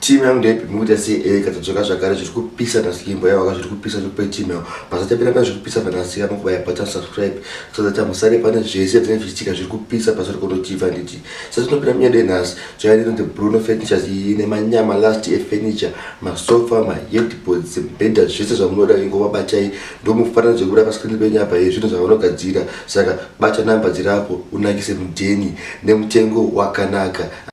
team yangu ndaipimi kuita sei eka eh, tadzoka zvakare zviri kupisa naslimbo yavo ka zviri kupisa zvekupe team yavo pasatapira pane zviri kupisa panasika nokubaya bata subscribe so that amusare pane zvese atine zvichitika zviri kupisa pasiri konotiva nditi satinopira munyada enhasi zvayaino the bruno furnitures iyi nemanyama last efurniture masofa maheadboards mbhedha zvese zvamunoda ingova batai ndomufanira zvekuda paskrini penyu apa ye zvinhu zvavanogadzira saka bata namba dzirapo unakise mudheni nemutengo wakanaka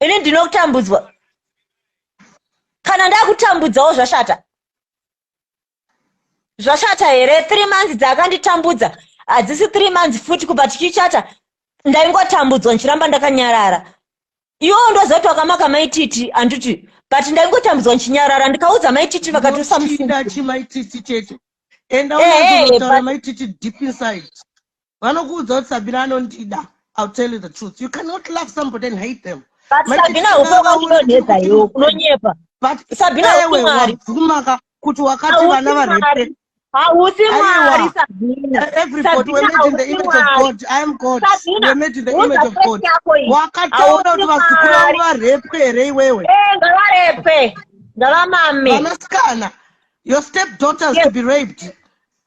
ini ndinotambudzwa kana ndakutambudzawo zvashata zvashata here three months dzaakanditambudza hadzisi three months futi kubva tichichata ndaingotambudzwa ndichiramba ndakanyarara iwowo ndozoti wakamaka maititi handiti but ndaingotambudzwa ndichinyarara ndikaudza maititi vakatosa mufundachi maititi chete enda eh, eh, unotora maititi deep inside vanokuudza kuti sabina anondida i'll tell you the truth you cannot love somebody and hate them but sabina ukoka kunonetsa iwo kunonyepa but sabina usimwari kumaka kuti wakati vana varepe hausi mwari sabinaeverybody were made in the image of god i am god were made in the image of god wakataura kuti vazukuru vavo varepwe here iwewe eh, ngavarepwe ngavamame vanasikana your step daughters to be raped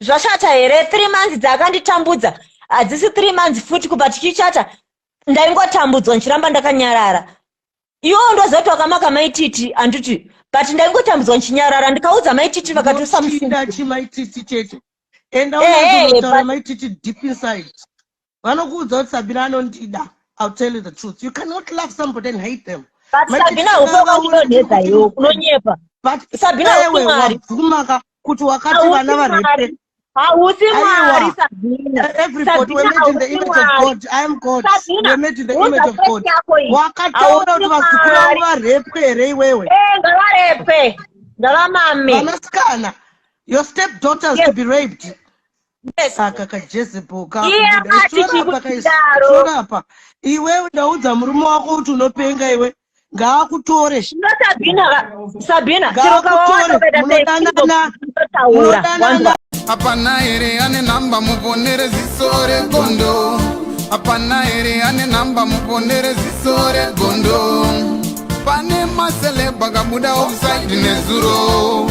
zvashata here three months dzaakanditambudza hadzisi three months futi kubva tichichata ndaingotambudzwa ndichiramba ndakanyarara iwowo ndozoti wakamaka maititi handiti but ndaingotambudzwa ndichinyarara ndikaudza maititi vakatosa mufundachi maititi chete enda unozotaura maititi deep inside vanokuudza kuti sabina anondida i'll tell you the truth you cannot love somebody and hate them but sabina ukwekwa kunonetsa iwo kunonyepa but sabina usimwari bvumaka kuti wakati vana varepe hausi mwari sabinawakataura kuti vazukuru vavo varepwe here iwewe eh, ngavarepwe ngavamame vanasikana your step daughters yes. to be raped Yes. saka kajezebel Iye akati kakubuda chikudaro. kaistorapa iwewe ndaudza murume wako kuti unopenga iwe ngaakutore Zvino Sabina va- Sabina chero kawawana ngaakutore ukaita seekibo munodanana unotaura wanzwa munodanana hapana here ane nhamba muponere ziso regondo hapana here ane nhamba muponere ziso regondo pane maselebha kabuda offside nezuro